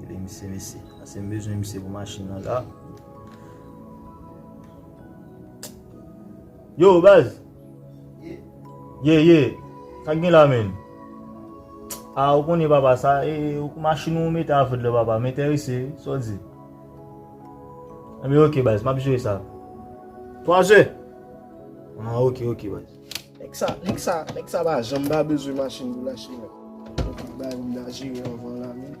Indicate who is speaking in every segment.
Speaker 1: Gade misye mesye. Ase m bezwen misye pou machin nan la. Yo baz. Ye ye. Sa gen la men. A ou konnen papa sa e ou kou machin ou mete a foud la papa. Mete a ese. Sa ou di. Ebe ok baz. Map jere sa. 3 ze. A ok ok baz. Nèg sa, nèg
Speaker 2: sa, nèg sa pa janm pa bezwen machin pou l achte mèt. Fò tout bagay moun a jere anvan l la men.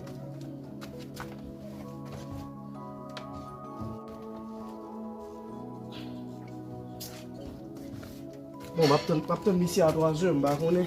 Speaker 2: Bon, m ap tann, m ap tann misye a 3 zè, m pa konnen.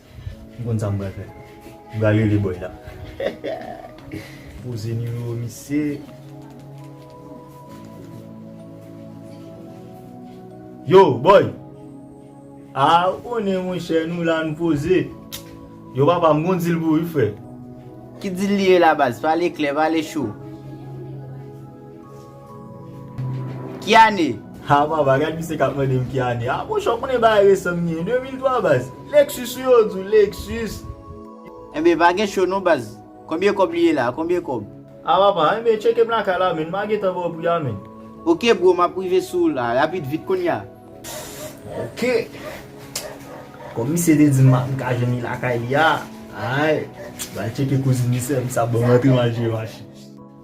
Speaker 1: M konn sa m pral fè. M pral rele boy la. Poze nimewo misye. Yo boy! A ou konnen monchè nou la nou poze. Yo papa m gon dil pou ou wi frè. Ki dil
Speaker 3: li ye la baz? Pale klè, pale cho. Ki ane? Haa papa gad misye
Speaker 1: kap mandem ki ane aa monchè ou konnen bagay resan mnye 2003 baz Lexus wi yo di w Lexus. Enben
Speaker 3: pa gen cho non baz. Konbyen kob li ye la konbyen kob. Ah papa
Speaker 1: enben tcheke m lakay la menn ma gentan baw pri a menn. Ok bro map
Speaker 3: rive sou ou la rapid vit kounya. Ok
Speaker 1: Kom misye te dim map ka jwenn li lakay li a Aayy bal tcheke kouzin misye m sa banm antre mal jwe machin.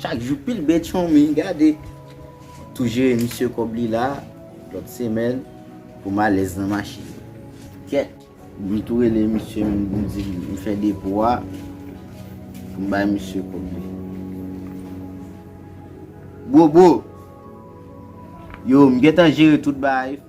Speaker 3: Chak jou pil bèt chome gade. Tou jere misye kob li la lot semèn pou m alèz nan machin kèt. M tou rele misye m di l m fè depo a pou m bay misye kob li. Bro bro. Yo m gentan jere tout bagay.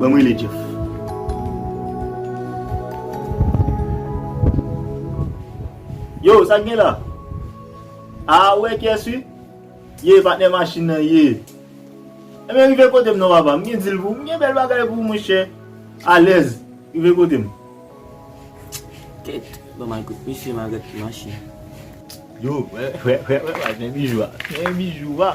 Speaker 1: Banm rele Jeff. Yow sak gen la? Aa ou wè kyes wi? Ye patnè machin nan ye. Ebyen rive kotem non papa m gen deal pou ou m gen bèl bagay pou ou monchè alèz rive kotem. Kèt
Speaker 4: banm al kot misye ma gad ki machin. Yow
Speaker 1: wè wè wè wè wè men bijou a men bijou a.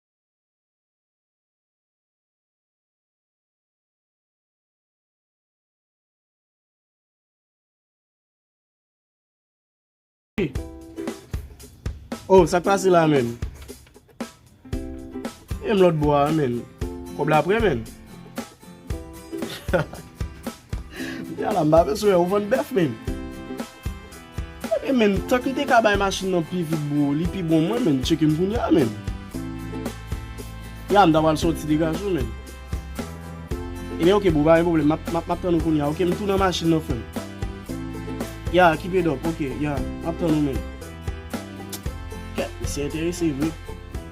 Speaker 2: Oh sak pase la menm. E m lòt bò a menm. Kòb la prè menm. Yala m pa bezwen wè ou vann bèf menm. Ebyen menm tank m te ka bay machin nan pi vit bro li pi bon mwen menm tcheke m kounya menm. Ya m ta pral soti degaj ou menm. Ebyen ok bro pa gen pwoblèm map tann ou kounya ok m tou nan machin nan frè m. Ya keep it up ok ya map tann ou menm. Kèt misye enterese vre.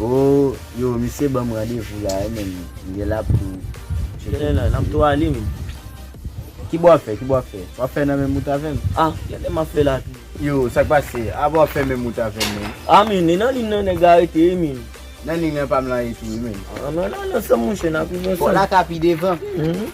Speaker 4: Oh
Speaker 3: yo misye banm randevou la wi menm m genla pou tcheke misye. Genlè
Speaker 4: nap tou ale menm. Kibo
Speaker 3: wap fè kibo wap fè wap fè nan menm wout avèm. Ah genlè map fè
Speaker 4: la tou. Yo sak pase
Speaker 3: apa wap fè menm wout avèm menm. Ah menn e nan ling
Speaker 4: nan nèg la rete wi menm. Nan ling nan pam
Speaker 3: lan ye tou wi menm. Ah nan nan nan sèm
Speaker 4: monchè nap rive ansanm. Fò laka pi devan.